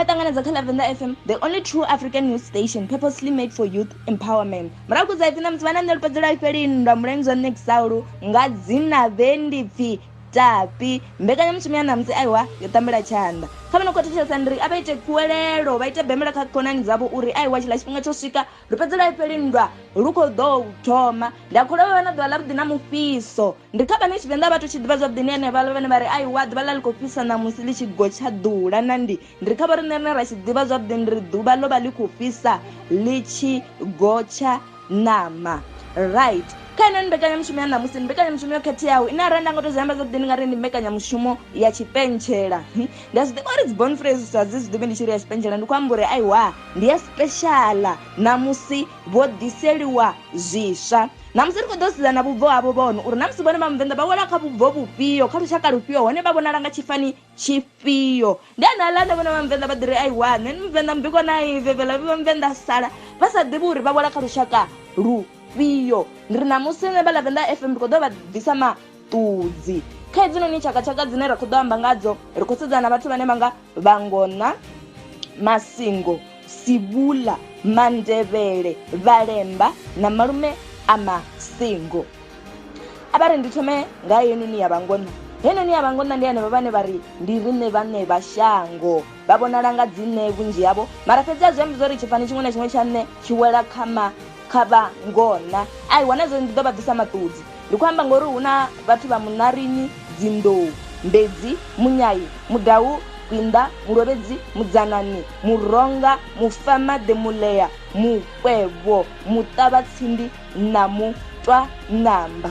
ṱanganedza kha lavenda fm the only true african news station purposely made for youth empowerment murahu kudza ipfi na musi vha na nṋe lupedzela ifhelini nda mulenzwa nṋe kusawulu nga dzina vhe ndi pfi Tapi, mbekanyamushumo ya ṋamusi aiwa yo tambela tshanḓa kha vha no khou thetshelesa ndi ri a vha ite kuwelelo vha ite bemela kha khonani dzavho uri aiwa tshiḽa tshifhinga tsho swika ri fhedze laifheli nndwa lu khou ḓo thoma ndi a kholwa vha vha na ḓuvha ḽa vhuḓi na mufhiso ndi kha vhane tshivenḓa vhathu tshi ḓivha zwavhuḓi ndi henevhaḽa vhane vha ri aiwa ḓuvha ḽa ḽi khou fhisa ṋamusi ḽi tshi gotsha ḓula na ndi ndi ri kha vho riṋe rine ra tshi ḓivha zwavhuḓi ndi ri ḓuvha ḽo vha ḽi khou fhisa ḽi tshi gotsha ṋama right kha ine mbekanyamushumo ya ṋamusi ndi mbekanyamushumo yo khetheaho ine arali nda nga to zwi amba zwavhuḓi ndi nga ri ndi mbekanyamushumo ya tshipentshela hm? ndi a zwi ḓivha uri dzi bon phrase sa dzi zwi ḓivhi ndi tshi ri ya tshipentshela ndi khou amba uri aiwa ndi ya speciala ṋamusi vho ḓiseliwa zwiswa ṋamusi ri khou ḓo sedza na vhubvo havho vhono uri ṋamusi vhone vha muvenḓa vha wela kha vhubvo vhufhio kha lushaka lufhio hone vha vhonala nga tshifani tshifhio ndi ane aḽa ane vhona vha muvenḓa vha ḓi ri ai wa nṋe ni muvenḓa mbiko na i vevela vha muvenḓa sala vha sa ḓivhi uri vha wela kha lushaka lufhio ndi ri ṋamusi nṋe vha lavenda fm ndi khou ḓo vha bvisa maṱudzi kha hedzinoni tshakatshaka dzine ra khou ḓo amba ngadzo ri khou sedzana na vhathu vhane vha nga vhangona masingo sibula mandevhele vhalemba na malume a masingo a vha ri ndi thome nga heinoni ya vhangona heinoni ya vhangona ndi henevho vhane vha ri ndi riṋe vhane vha shango vha vhonala nga dzine vhunzhi havho mara fhedzi a zwi ambi zwa uri tshifani tshiṅwe na tshiṅwe tsha nṋe tshi wela kha ma kha vhangona a i wana zwo ndi ḓo vha ḓisa maṱudzi ndi khou amba ngori hu na vhathu vha munarini dzinḓou mbedzi munyayi mudawu kwinda mulovhedzi mudzanani muronga mufamaḓe mulea mukwevho muṱavhatsindi na mutwa namba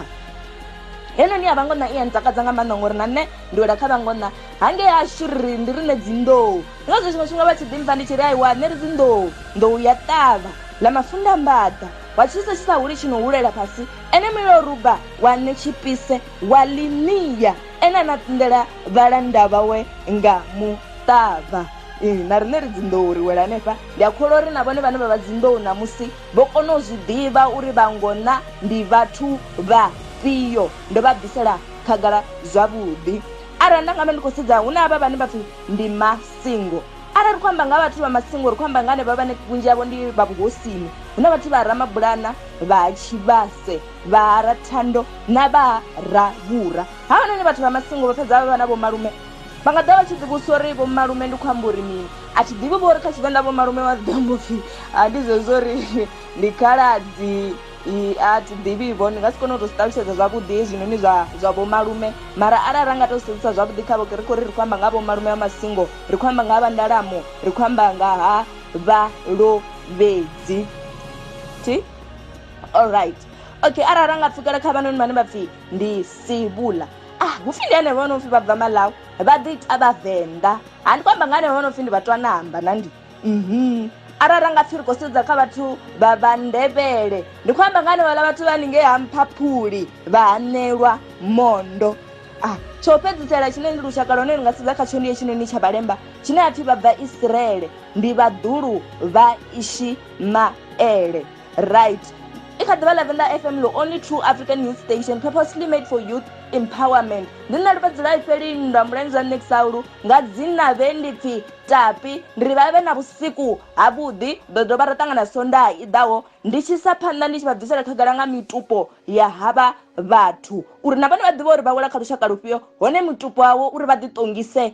heno ni ya vhangona i ya ntakadza nga maanḓa ngori na nṋe ndi wela kha vhangona hangei hashu ri ndi rine dzinḓou ndi ngazwo tshiṅwe tshifhinga vha tshi ḓimpfa ndi tshi ri aiwa nṋe ri dzinḓou nḓou ya ṱavha ḽa mafunda mbaḓa wa tshisa tshi sa huli tshi no hulela fhasi ene mulilo ruba wa nṋe tshipise wa ḽinia ene a na tsindela vhalanda vhawe nga muṱavha na riṋe ri dzinḓou ri wela hanefha ndi a kholwa uri na vhone vhane vha vha dzinḓou ṋamusi Vho kona u zwi ḓivha uri vhangona ndi vhathu vhafhio. Ndo vha bvisela khagala zwavhuḓi. Arali nda nga vha ndi khou sedza, hu na havha vhane vha pfi ndi masingo. Arali ri khou amba nga ha vhathu vha masingo, ri khou amba nga henevha vhane vhunzhi havho ndi vha vhuhosini. Hu na vhathu vha ha Ramabulana, vha ha Tshivhase, vha ha Rathando na vha ha Ravhura. Havhanoni vhathu vha masingo vha fhedza vha vha na vhomalume. Vha nga ḓa vha tshi ḓi vhudzisa uri vho malume ndi khou amba uri mini a thi ḓivhi vho uri kha tshivenḓa vho malume vha ḓi amba upfhi a ndi zwezwo uri ndi khaladzi a thi ḓivhi vho ndi nga si kone u to zwi ṱalutshedza zwavhuḓi hezwinoni zwa zwa vho malume mara arali ra nga to sedzisa zwavhuḓi kha vhoke ri khou ri ri khou amba nga vho malume a masingo ri khou amba nga ha vha ndalamo ri khou amba nga ha vha lovhedzi thi all right okay arali ra nga pfhukela kha vhanoni vhane vha pfhi ndi sivhula ah hu pfi ndi ane vha no pfi vha bva malawi vha ḓi ita vhavenḓa ha ndi khou amba nga ane vha no pfi ndi vhathu ana amba na ndi mhm arali ra nga pfi ri khou sedza kha vhathu vha vha ndebele ndi khou amba nga ane vhala vhathu vha ningei ha mphaphuli vha hanelwa mondo ah tsho fhedzisela tshine ndi lushaka lwa hone ndi nga sedza khatsho ndi hetshinoni tsha vhalemba tshine ha pfi vha bva isiraele ndi vhaḓulu vha ishimaele right i kha ḓivha lavenda fm lo only true african news station purposely made for youth empowerment ndi nṋe lufhedzela ifheli nndwa mulenzhe wa nexaulu nga dzina vhe ndi pfi tapi ndi ri vha vhe na vhusiku havhuḓi ḓo dovha ra ṱangana sondaa i ḓaho ndi tshi sa phanḓa ndi tshi vha bvisela khagala nga mitupo ya havha vhathu uri na vhone vha ḓivhe uri vha wela kha lushaka lufhio hone mutupo wawo uri vha ḓiṱongise